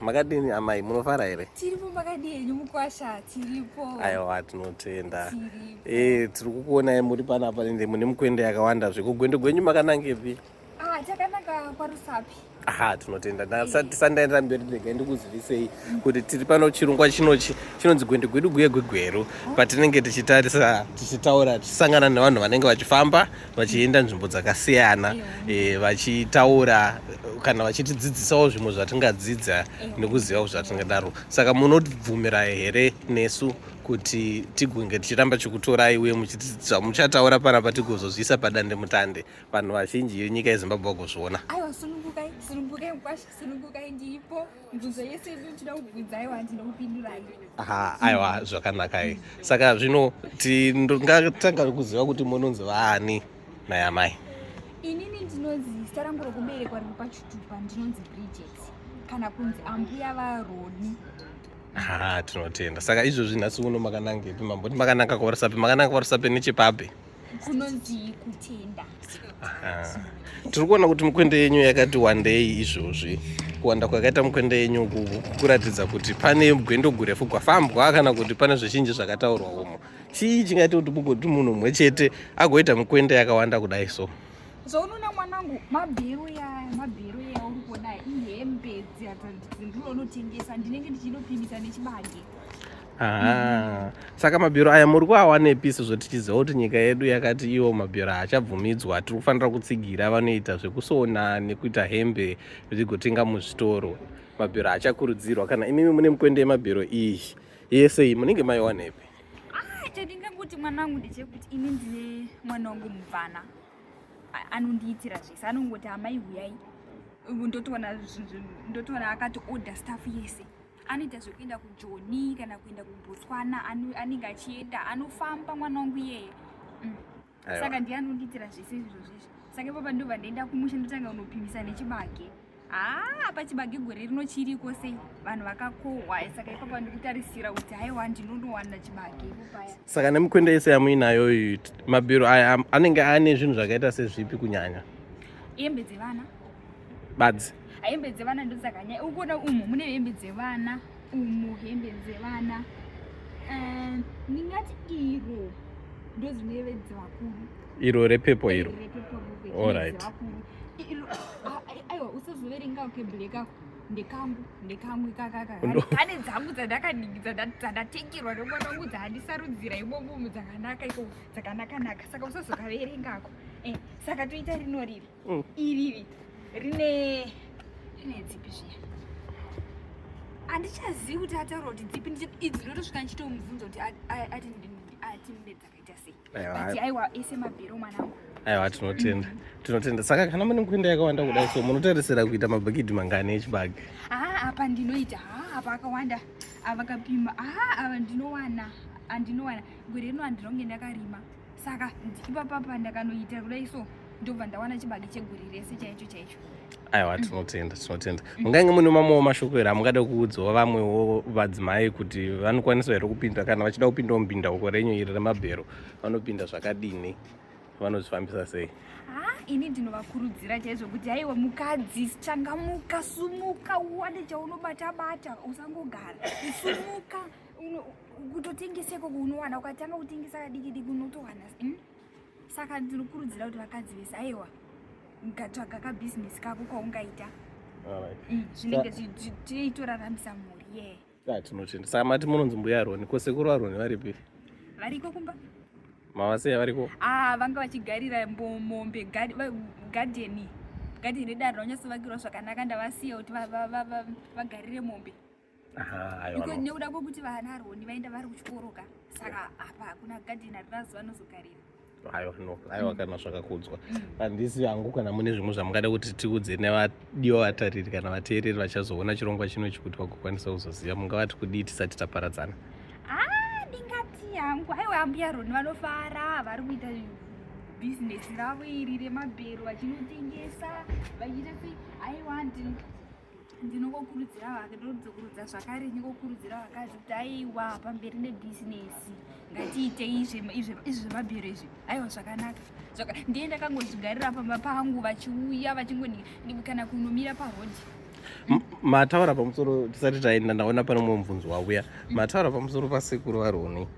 makadini amai munofara here tiripo makadii henyu mukwasha tiripo aiwa tinotenda eh tiri kukuonai muri panapa ende mune mukwende yakawanda zvekugwendo gwenyu makanangepi ah takananga kwarusapi aha tinotenda tisandaenda mberi ndega ndikuzivisei kuti tiri pano chirungwa chinochi chinonzi gwende gwedu guye gwegweru patinenge tichitarisa tichitaura tichisangana nevanhu vanenge vachifamba vachienda nzvimbo dzakasiyana e, vachitaura kana vachitidzidzisawo zvimwe zvatingadzidza nekuziva zvatingadaro saka munobvumira here nesu kuti tigonge tichiramba chikutorai uye muchataura panapa tigozozviisa padande mutande vanhu vazhinji yenyika yezimbabwe vagozviona mibvunzo yese inotoda kubvunzai wanzi ndokupindurai ha aiwa zvakanakai saka zvino tingatanga kuziva kuti munonzi vaani naya mai inini ndinonzi zita rangu rokuberekwa riri pachitupa ndinonzi bridget kana kunzi ambuya varoni ha tinotenda saka izvozvi nhasi uno makanangepi mamboti makananga kuvarusapi makananga kuvarusapi nechepapi kunonzii kutenda tiri kuona kuti mukwende yenyu yakati wandei izvozvi kuwanda kwakaita mukwende yenyu kuratidza kuti pane gwendo gurefu gwafambwa kana kuti pane zvizhinji zvakataurwa umo chii chingaita kuti mugoti munhu umwe chete agoita mukwende yakawanda kudai so zvaunoona mwanangu mabhero yaya mabhero yaya uri kuona ihembe dzatandindironotengesa ndinenge ndichindopimisa nechibage Aha. Saka mabhero aya muri kuawanepi sezvo tichiziva kuti nyika yedu yakati iwo mabhero haachabvumidzwa tiri kufanira kutsigira vanoita zvekusona nekuita hembe zvigotenga muzvitoro mabhero haachakurudzirwa kana imimi mune mukwende yemabhero iyi yese iyi munenge maiwanepi ah, chandingangoti mwana wangu ndechekuti ini ndine mwana wangu mubvana anondiitira zvese anongoti amai huyai ndotoona ndotoona akati order staff yese anoita zvekuenda kujoni kana kuenda kubotswana anenge achienda anofamba mwana wangu iyeye mm. saka ndiye anondiitira zvese izvozvizvi saka ipapa ndobva ndaenda kumusha ndotanga kunopimisa nechibage haa ah, pachibage gore rino chiriko sei vanhu vakakohwa saka ipapa ndikutarisira kuti haiwa ndinonowana chibage ipopaya saka nemikwende yese yamuinayo mabhiro aya anenge ane zvinhu zvakaita sezvipi kunyanya hembe dzevana badzi hembe dzevana ndodzakanyaya ukuona umu mune hembe dzevana umu hembe dzevana eh, ndingati iro ndozvineve dzevakuru iro repepo iro allright aiwa usazoverenga ke black ako ndekangu ndekamwe kakaka ane dzangu dzandakadikidza dzandatengerwa nemwana wangu dzandisarudzira imomumu dzakanaka iko dzakanakanaka saka usazokaverengako eh, saka toita rino riri mm. iriri rine rine dzipi zviya handichazivi kuti ataura kuti dzipi idzi ndotosvika ndichitomubvunza kuti ati atimbe dzakaita sei but aiwa ese mabhero mwanangu aiwa tinotenda tinotenda saka kana mune kuenda yakawanda kudai so munotarisira kuita mabhakidhi mangani echibage haa ah, apa ndinoita haa ah, apa akawanda avakapima ah, haa ava ndinowana andinowana gore rino handinonge ndakarima saka ipapa pa ndakanoita kudai so ndobva ndawana chibage cheguri rese chaicho chaicho aiwa tinotenda tinotenda mungange mune mamwewo mashoko here amungada kuudzawo vamwewo vadzimai kuti vanokwanisa here kupinda kana vachida kupindawo mupinda uko renyu iri remabhero vanopinda zvakadini vanozvifambisa sei ini ndinovakurudzira chaizvo kuti haiwa mukadzi changamuka sumuka uwane chaunobata bata usangogara sumuka kutotengeseko kunowana ukatanga kutengesa kadiki diki unotowana hmm? saka ndinokurudzira kuti vakadzi vese aiwa ngatsvaga kabhizinesi kako kwaungaita hmm, zvinenge tiitoraramisa mhuri ye tinochenda saka mati munonzi mbuya aroni ko sekuru aroni varipi variko kumba mavaseya variko ah, vanga vachigarira mombe gadheni gadheni redare raunyasovakirwa zvakanaka ndavasiya kuti vagarire mombe nekuda kwekuti vana aroni vaenda vari kuchikoro ka saka apa hakuna gadheni ari vazuva anozogarira aiwa no aiwa mm. kana zvakakudzwa mm. handisi hangu kana mune zvimwe zvamungada kuti tiudze nevadiwa vatariri kana vateereri vachazoona chirongwa chino chikuti vagokwanisa kuzoziva mungavati kudii tisati taparadzana ah, ndingati hangu aiwa ambuya roni vanofara vari kuita bhizinesi ravo iri remabhero vachinotengesa vachiita sei aiwa ndini ndinokokurudzira vake ndodzokurudza zvakare ndinokokurudzira vakadzi kuti aiwa pamberi nebhizinesi ngatiite izvi zvemabhero izvi aiwa zvakanaka ndiye ndakangozvigarira pamba pangu vachiuya vachingoni kana kunomira pahodhi mataura pamusoro tisati taenda ndaona pane mumwe mubvunzo wauya mataura pamusoro pasekuru varoni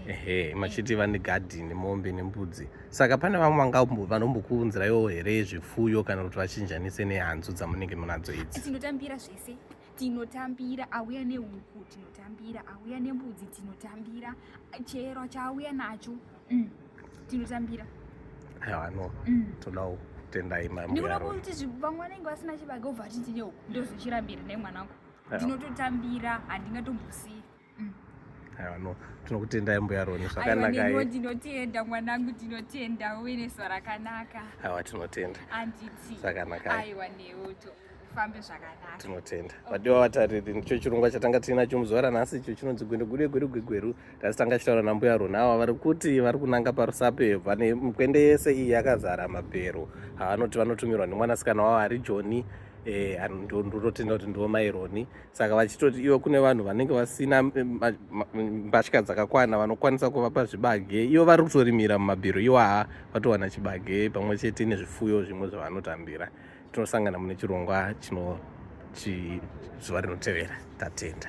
ehe machiti vane gadhini mombe nembudzi saka pane vamwe vangambo vanombokuunzirayo here zvifuyo kana kuti vachinjanise nehanzu dzamunenge munadzo idzi tinotambira zvese tinotambira auya nehuku tinotambira auya nembudzi tinotambira chero chaauya nacho mm. tinotambira aiwa no mm. todawo tendai mamndikuda kuti vamwe vanenge vasina chibaga obva atiti neuku ndozochirambira nemwana wangu ndinototambira handingatombusii aiwa no tinokutendai mbuya roni zvakanaka ndinotenda mwanangu ndinotenda uve nezuva rakanaka aiwa tinotenda anditi zvakanaka aiwa neuto ufambe zvakanaka tinotenda vadiwa vatariri ndicho chirongwa chatanga tiinacho muzuva ranhasi icho chinonzi gwendegude gwerugwegweru tasi tanga chitaura nambuya rona ava vari kuti vari kunanga parusape vane mukwende yese iyi yakazara mabhero havanoti vanotumirwa nemwanasikana wavo ari joni eh, ndotenda kuti ndivo maironi saka vachitoti ivo kune vanhu vanenge vasina mbatya dzakakwana vanokwanisa kuvapa zvibage ivo vari kutorimira mumabhiro iwaha vatowana chibage pamwe chete nezvifuyo zvimwe zvavanotambira tinosangana mune chirongwa chino zuva rinotevera tatenda